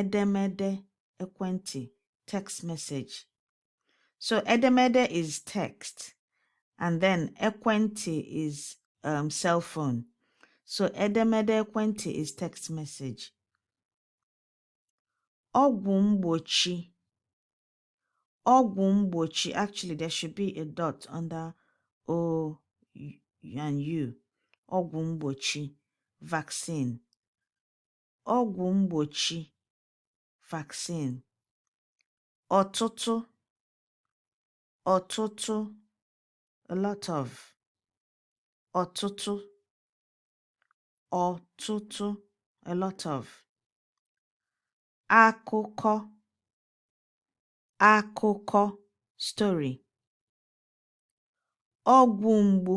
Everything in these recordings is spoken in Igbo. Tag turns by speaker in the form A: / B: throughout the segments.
A: edemede ekwentị text message so edemede is text and then ekwentị is um, cell phone so edemede ekwentị is text message ọgwụ mgbochi ọgwụ mgbochi actually there should be a dot under o and u ọgwụ mgbochi vaccine ọgwụ mgbochi vaccine, ọtụtụ, ọtụtụ, a lot of, ọtụtụ, ọtụtụ, a lot of, akụkọ, akụkọ, story, ọgwụ mgbu.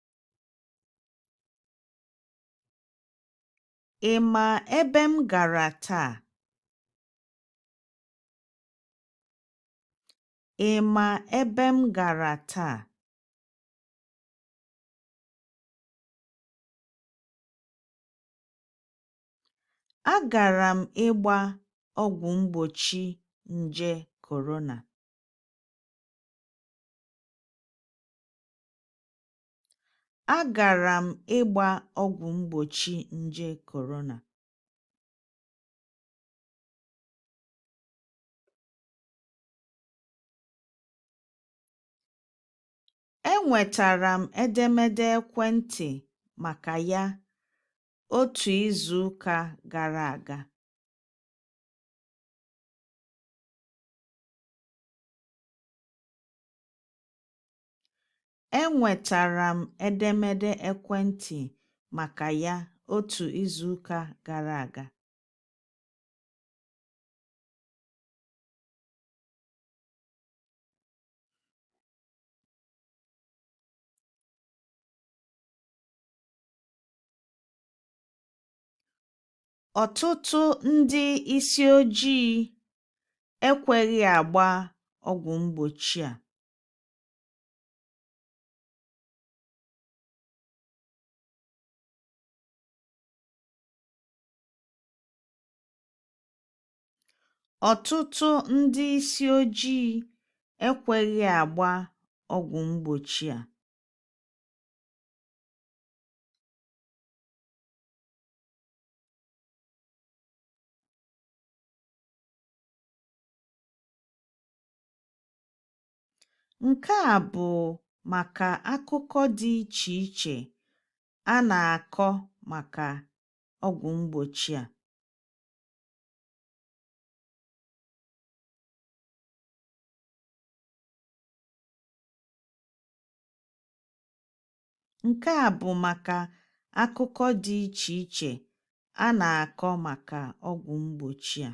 A: Ị ma ebe m gara taa? Ị ma ebe m gara taa? Agara m ịgba ọgwụ mgbochi nje corona. Agara m ịgba ọgwụ mgbochi nje corona. Enwetara m edemede ekwentị maka ya otu izu ụka gara aga. Enwetara m edemede ekwentị maka ya otu izu ụka gara aga. Ọtụtụ ndị isi ojii ekweghị agba ọgwụ mgbochi a. Ọtụtụ ndị isi ojii ekweghị agba ọgwụ mgbochi a. Nke a bụ maka akụkọ dị iche iche a na-akọ maka ọgwụ mgbochi a. Nke a bụ maka akụkọ dị iche iche a na-akọ maka ọgwụ mgbochi a.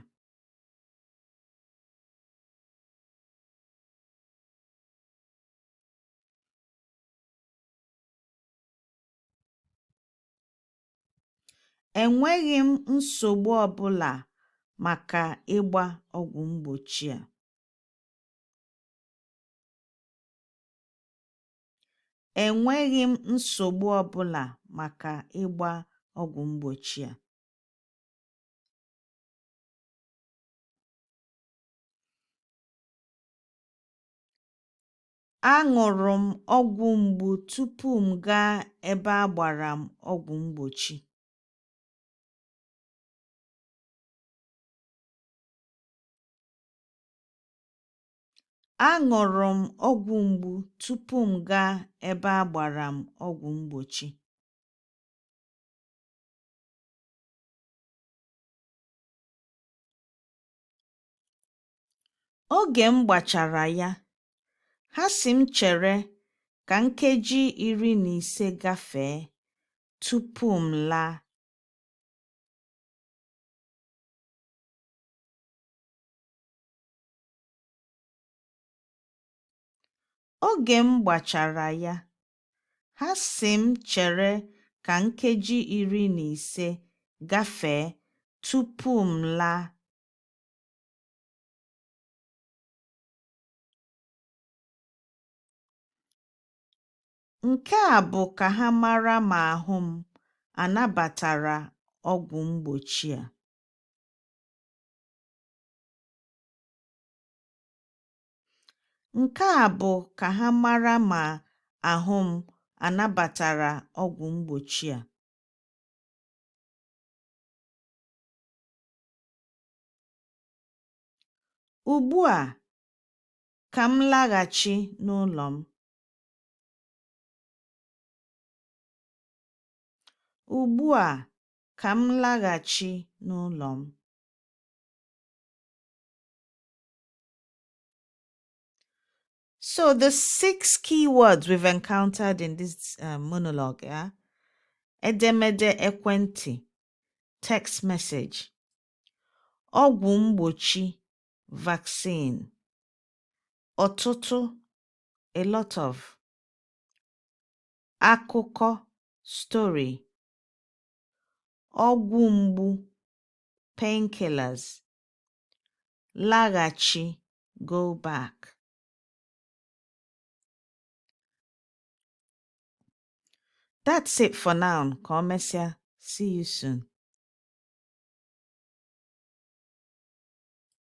A: Enweghị m nsogbu ọbụla maka ịgba ọgwụ mgbochi a. Enweghị m nsogbu ọbụla maka ịgba ọgwụ mgbochi a. Aṅụrụ m ọgwụ mgbu tupu m gaa ebe a gbara m ọgwụ mgbochi. Aṅụrụ m ọgwụ mgbu tupu m gaa ebe a gbara m ọgwụ mgbochi. Oge m gbachara ya, ha sị m chere ka nkeji iri na ise gafee tupu m laa. Oge m gbachara ya. Ha sị m chere ka nkeji iri na ise gafee tupu m laa. Nke a bụ ka ha mara ma ahụ m anabatara ọgwụ mgbochi a. Nke a bụ ka ha mara ma ahụ m anabatara ọgwụ mgbochi a. Ugbu a, ka m laghachi n'ụlọ m. Ugbu a, ka m laghachi n'ụlọ m. So the six key words we've encountered in this uh, monologue, yeah? Edemede ekwenti, text message, ọgwụ mgbochi, vaccine, ọtụtụ, a lot of, akụkọ, story, ọgwụ mgbu, painkillers, laghachi go back that's it for now ka emesịa see you soon